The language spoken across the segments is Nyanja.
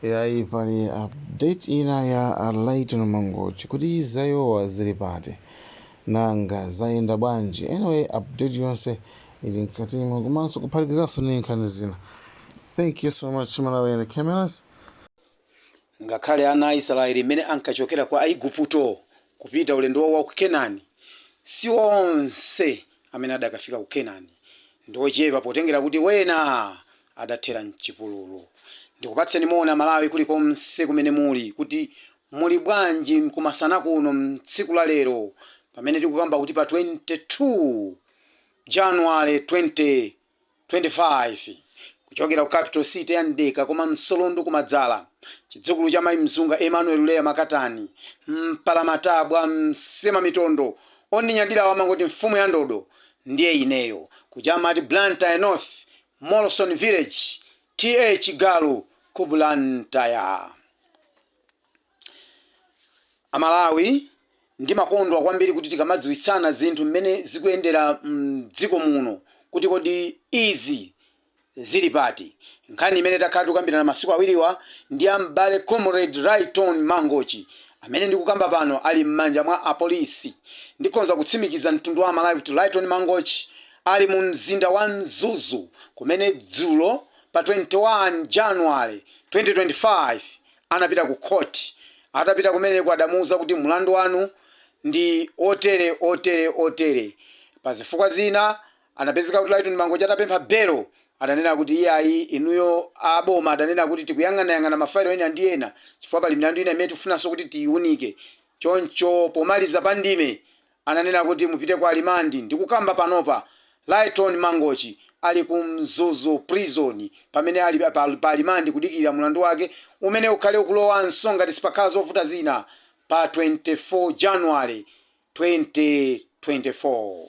yayi pali update ina ya a Lyton Mangochi kuti zaiwowa zili pati nanga zayenda bwanji anyway update yonse ili mkatimo komanso kuphatikizanso ndi nkhani zina thank you so much malawi and cameras ngakhale ana a israeli mmene ankachokera kwa aiguputo kupita ulendo wawo wa ku kenani si onse amene adakafika ku kenani ndi ochepa potengera kuti ena adathera mchipululu. Ndikupatseni moni amalawi kulikonse kumene muli kuti muli bwanji kumasana kuno mtsiku la lero pamene tikukamba kuti pa 22 January 2025 kuchokera ku capital city ya Mdeka koma Msolondo kumadzala chidzukulu cha mai Mzunga Emmanuel Leah Makatani mpalamatabwa msemamitondo ondinyadirawa amangoti mfumu ya ndodo ndiye ineyo kuja amati Blantyre north Molson Village, TA Chigalu ku Blantyre. A Malawi ndimakondwa kwambiri kuti tikamadziwitsana zinthu mmene zikuyendera mdziko muno kuti kodi izi zili pati. Nkhani imene takhala tikukambirana masiku awiriwa ndi ya m'bale Comrade Lyton Mangochi amene ndikukamba pano ali mmanja mwa apolisi. Ndikhonza kutsimikiza mtundu wa Amalawi kuti Lyton Mangochi Ali mu mzinda wa Mzuzu kumene dzulo pa 21 January 2025 anapita ku court. Atapita kumeneko adamuuza kuti mlandu wanu ndi otere otere otere. Pa zifukwa zina anapezeka kuti Lyton Mangochi atapempha belo adanena kuti iyayi inuyo a boma adanena kuti tikuyang'anayang'ana ma file ena ndi ena chifukwa pali milandu ina imene tifunanso kuti tiyiunike. Choncho pomaliza pa ndime Ananena kuti mupite ku limandi ndikukamba panopa Lyton Mangochi ali ku Mzuzu prison pamene ali pa limandi kudikirira mulandu wake umene ukhale ukulowanso ngati sipakhala zovuta zina pa 24 January 2024.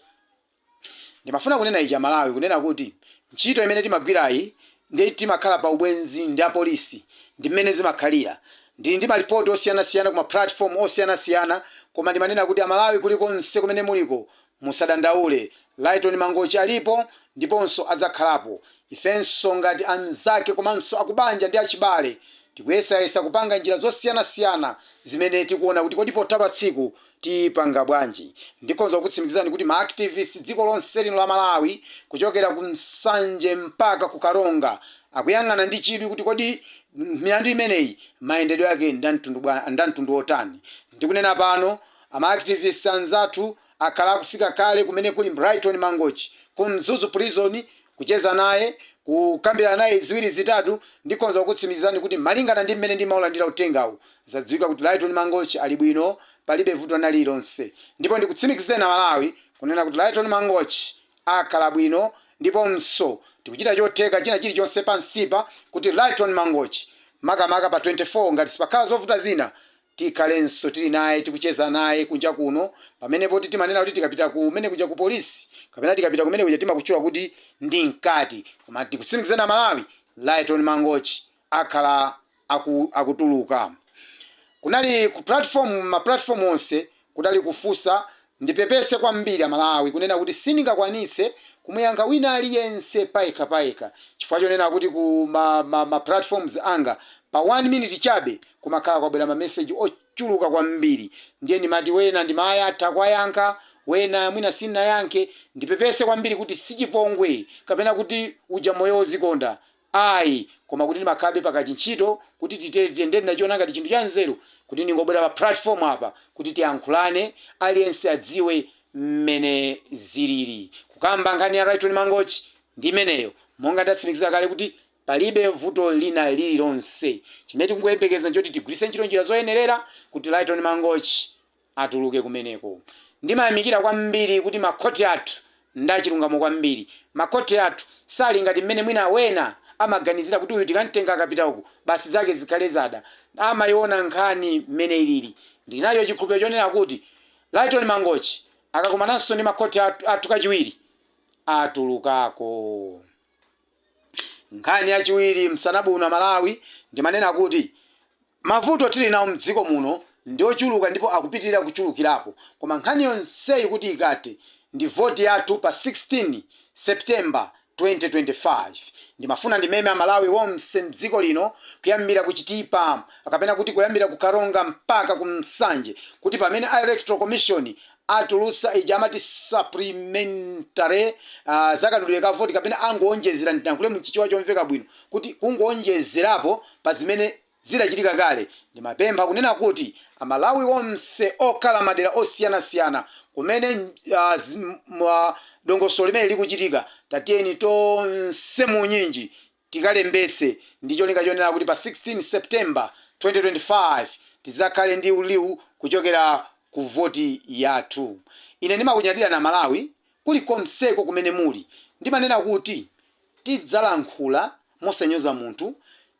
Ndimafuna kunena ichi amalawi kunena kuti ntchito imene timagwirayi ndi timakhala pa ubwenzi ndi apolisi ndimmene zimakhalira ndili ndi malipoti osiyanasiyana ku ma platform osiyanasiyana koma ndimanena kuti amalawi kulikonse kumene muliko musadandaule Lyton Mangochi alipo ndiponso adzakhalapo ifenso ngati anzake komanso akubanja ndi achibale tikuyesayesa kupanga njira zosiyanasiyana zimene tikuona kuti kodi potha pa tsiku Tipanga bwanji? Ndikhonza kukutsimikizirani kuti ma activists dziko lonse lino la Malawi kuchokera ku Nsanje mpaka ku Karonga akuyang'ana ndi chidwi kuti kodi milandu imeneyi mayendedwe ake ndi amtundu bwa ndi amtundu otani. Ndikunena pano a ma activists anzathu akhala akufika kale kumene kuli Lyton Mangochi, ku Mzuzu Prison, Kucheza naye, kukambira naye ziwiri zitatu, ndikhonza kukutsimikizirani kuti malingana ndi mmene ndimaulandira uthengawo, zadziwika kuti Lyton Mangochi ali bwino palibe vuto lina lililonse. Ndipo ndikutsimikizireni a Malawi kunena kuti Lyton Mangochi akhala bwino ndiponso tikuchita chotheka china chilichonse pansipa kuti Lyton Mangochi makamaka pa 24 ngati sipakhala zovuta zina Tikhalenso tili naye tikucheza naye kunja kuno pamene poti timanena kuti tikapita kumene kuja ku polisi kapena tikapita kumene kuja timakutchula kuti ndi mkati koma ndikutsimikizeni amalawi Lyton Mangochi akhala akutuluka kunali ku ma platform onse Kudali kufunsa ndipepese kwambiri Amalawi kunena kuti sindingakwanitse kumuyankha wina aliyense payekha payekha chifukwa chonena kuti ku ma ma ma platforms anga pa 1 minute chabe kumakhala kwabwera ma message ochuluka kwambiri ndiye ndimati wena ndimayatha kuwayankha wena mwina sindinayankhe ndipepese kwambiri kuti sichipongwe kapena kuti uja moyo ozikonda Ayi, koma kuti ndimakhalabe pa kachintchito, kuti titere, titere. Ndiye ndinachiona ngati chinthu chanzeru kuti ndingobwera pa pulatifomu apa kuti tiyankhulane, aliyense adziwe mmene zilili. Kukamba nkhani ya Lyton Mangochi ndi imeneyo. Monga ndatsimikiza kale kuti palibe vuto lina lililonse. Chimene tikungoyembekeza n'choti tigwiritse ntchito njira zoyenerera kuti Lyton Mangochi atuluke kumeneko. Ndimayamikira kwambiri kuti makhoti athu ndi achilungamo kwambiri. Makhoti athu sali ngati mmene mwina wena amaganizira kuti uyu tikamtenga akapita uku, basi zake zikhale zada. Amaiona nkhani mmene ilili. Ndinacho chikhulupiriro chonena kuti Lyton Mangochi akakumananso ndi makhoti athu kachiwiri, atulukako. Nkhani yachiwiri msana uno amalawi ndimanena kuti mavuto tili nawo mdziko muno ndiochuluka ndipo akupitilira kuchulukirapo koma nkhani yonseyi kuti ikathe ndi vote yathu pa 16 September 2025 ndimafuna ndimeme amalawi onse mdziko lino kuyambira ku chitipa kapena kuti kuyambira ku karonga mpaka ku nsanje kuti pamene a electoral commission atulutsa ija amati supplementary uh, za kadulira ka voti kapena angowonjezera nditankhule mchichewa chomveka bwino kuti kungowonjezerapo pa zimene zidachitika kale ndimapempha kunena kuti amalawi onse okhala madera osiyanasiyana kumene uh, zim, uh, dongosolo limene likuchitika tatiyeni tonse muunyinji tikalembetse ndi cholinga chonena kuti pa 16 September 2025 tidzakhale ndi liu kuchokera ku voti yathu. Ine ndimakunyadirani Amalawi kuli konseko kumene muli. Ndimanena kuti tidzalankhula mosanyoza munthu,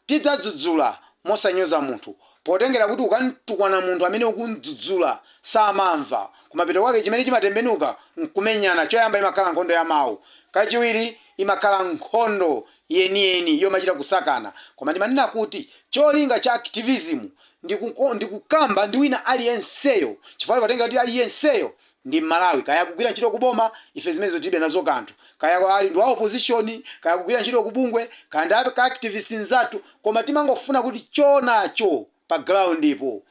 tidzadzudzula mosanyoza munthu potengera kuti ukamtukwana munthu amene ukumdzudzula samamva, kumapeto kwake chimene chimatembenuka nkumenyana, choyamba imakhala nkhondo ya mau, kachiwiri imakhala nkhondo yeniyeni yomachita kusakana. Koma ndimanena kuti cholinga cha activism ndi kukamba ndi wina aliyenseyo chifukwa timatengera kuti aliyenseyo ndi Mmalawi. Kaya akugwira ntchito ku boma, ife zimenezo tilibe nazo kanthu, kaya ali ndi wa opposition, kaya akugwira ntchito ku bungwe, kaya ndi a activist mnzathu, koma timangofuna kuti choonacho pa ground po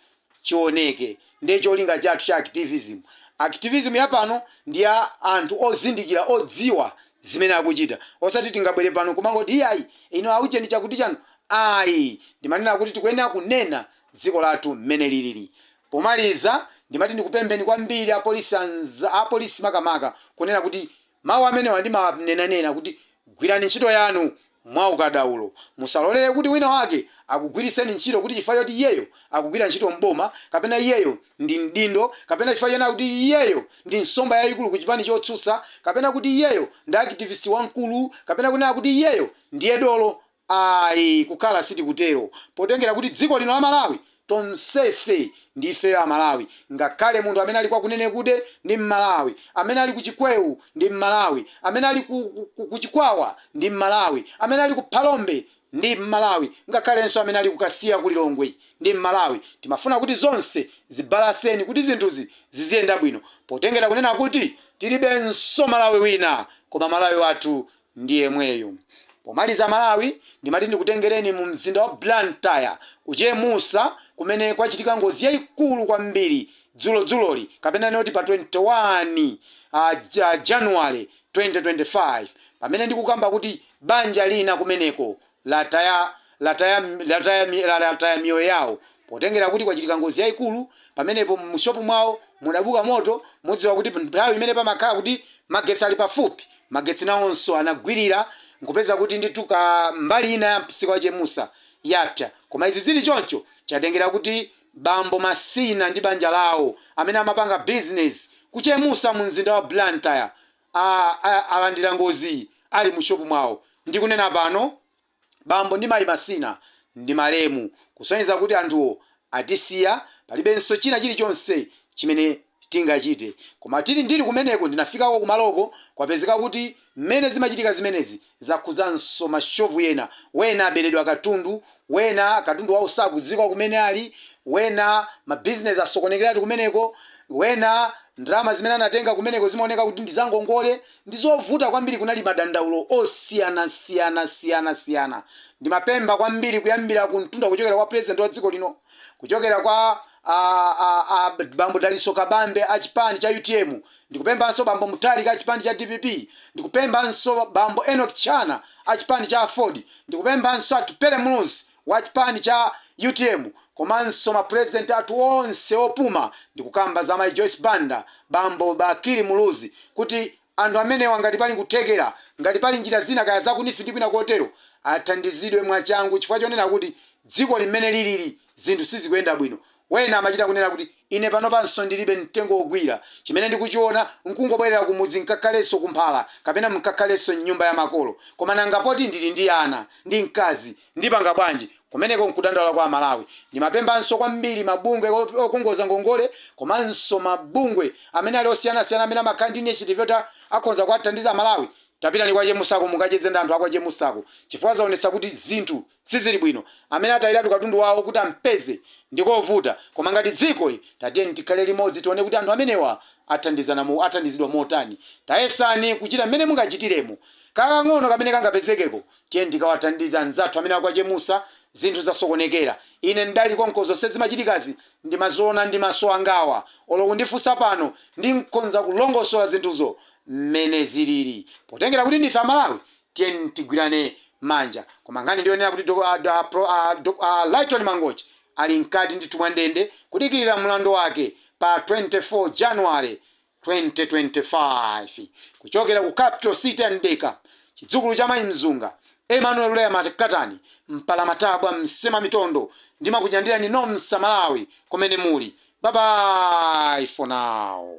chioneke. Ndiye cholinga chathu cha activism. Activism ya pano ndi ya anthu ozindikira, odziwa zimene akuchita. Osati tingabwere pano n'kumangoti, Iyayi, inu a ujeni chakutichan. Ayi! Ndimanena kuti tikuyenera kunena dziko lathu mmene lilili. Pomaliza, ndimati ndikupempheni kwambiri apolisi makamaka, kunena kuti Mawu amenewa ndimawanenanena kuti gwirani ntchito yanu mwaukadaulo. Musalolere kuti wina wake akugwiritseni ntchito kuti chifukwa choti iyeyo akugwira ntchito m'boma kapena iyeyo ndi mdindo kapena chifukwa chonena kuti iyeyo ndi nsomba yayikulu ku chipani chotsutsa kapena kuti iyeyo ndi activist wamkulu kapena kunena kuti iyeyo ndiye dolo Ayi, kukhala sitikutero potengera kuti dziko lino la Malawi tonsefe ndi ifeyo aMalawi, ngakhale munthu amene ali kwa Kunenekude ndi mMalawi, amene ali ku Chikweo ndi mMalawi, amene ali ku Chikwawa ndi mMalawi, amene ali ku Phalombe ndi mMalawi ngakhalenso amene ali ku Kasiya ku Lilongwe ndi mMalawi. Timafuna kuti zonse zibalanse kuti zinthuzi ziziyenda bwino potengera kunena kuti tilibenso Malawi wina koma Malawi wathu ndi yemweyu. Pomaliza Malawi ndimati ndikutengereni mu mzinda wa Blantyre ku Chemusa kumene kwachitika ngozi yaikulu kwambiri dzulo dzuloli kapena tinene kuti pa 21 January 2025 pamene ndikukamba kuti banja lina kumeneko lataya miyoyo yawo potengera kuti kwachitika ngozi yaikulu pamenepo mu shop mwawo mudabuka moto mudziwa kuti nthawi imene pamakhala kuti magetsi ali pafupi magetsi nawonso anagwirira nkupeza kuti ndithu kambali ina ya msika wa Chemusa yapsya koma izi zili choncho chatengera kuti bambo Masina ndi banja lawo amene amapanga business ku Chemusa mu mzinda wa Blantyre a, a, alandira ngoziyi ali mu shopu mwawo. Ndikunena pano, Bambo ndi Mayi Masina ndi malemu, kusonyeza kuti anthuwo atisiya, palibenso china chilichonse chimene tingachite. Koma tili, ndili kumeneko, ndinafikako kumaloko, kwapezeka kuti mmene zimachitika zimenezi, Zakhudzanso mashopu ena. Wena aberedwa katundu, wena katundu wawo sakudziwika kumene ali, wena mabizinezi asokonekeratu kumeneko, wena ndalama zimene anatenga kumeneko zimaoneka kuti ndi zangongole. Ndi zovuta kwambiri. Kunali madandaulo osiyanasiyanasiyanasiyana. Ndimapempha kwambiri kuyambira ku mtunda kuchokera kwa Pulezidenti wa dziko lino, kuchokera kwa a, a, a, bambo Dalitso Kabambe a chipani cha utm, Ndikupemphanso Bambo Mutharika a chipani cha dpp, ndikupemphanso Bambo Enock Chihana a chipani cha aford, ndikupemphanso Atupele Muluzi wa chipani cha utm komanso ma President athu onse opuma, ndikukamba za Mayi Joyce Banda, Bambo Bakili Muluzi kuti anthu amenewa ngati pali kuthekera, ngati pali njira zina kaya za kunifi ndi kwina kotero, athandizidwe mwachangu chifukwa chonena kuti dzikoli mmene liliri, Zinthu sizikuyenda bwino. Wena amachita kunena kuti, Ine panopanso ndilibe mtengo wogwira. Chimene ndikuchiona n'kungobwerera kumudzi nkakhalenso kumphala kapena nkakhalenso m'nyumba ya makolo. Koma nanga poti ndili ndi ana ndi mkazi, ndipanga bwanji? Kumeneko n'kudandaula kwa Amalawi. Ndimapemphanso kwambiri mabungwe okongoza ngongole komanso mabungwe amene ali osiyanasiyana amene amakhala ndi initiative yoti akhonza kuwathandiza Amalawi. Tapitani kwa Chemussako mukacheze ndi anthu a kwa Chemussako chifukwa zaonetsa kuti zinthu Sizili bwino. Amene atayiratu katundu wawo kuti ampeze ndikovuta koma ngati dziko tatiyeni tikhale limodzi tione kuti anthu amenewa athandizidwa motani. Tayesani kuchita mmene mungachitiremo. Kakang'ono kamene kangapezekeko tiyeni tikawathandize anzathu amene a kwa Chemussa zinthu zasokonekera. Ine ndidali konko zonse zimachitikazi ndimaziona ndi maso angawa. Olo kundifunsa pano ndikhoza kulongosola zinthuzo mmene zilili. Potengera kuti ndife a Malawi Tiyeni tigwirane manja. Koma nkhani ndi yonena kuti a Lyton Mangochi ali mkati ndithu mwa ndende kudikirira mlandu wake pa 24 January 2025. Kuchokera ku capital city ya Mdeka, chidzukulu cha Mayi Mzunga, Emmanuel Lea Makatani, Mpalamatabwa, Msemamitondo ndimakunyandirani nonse a Malawi kumene muli. Bye bye for now.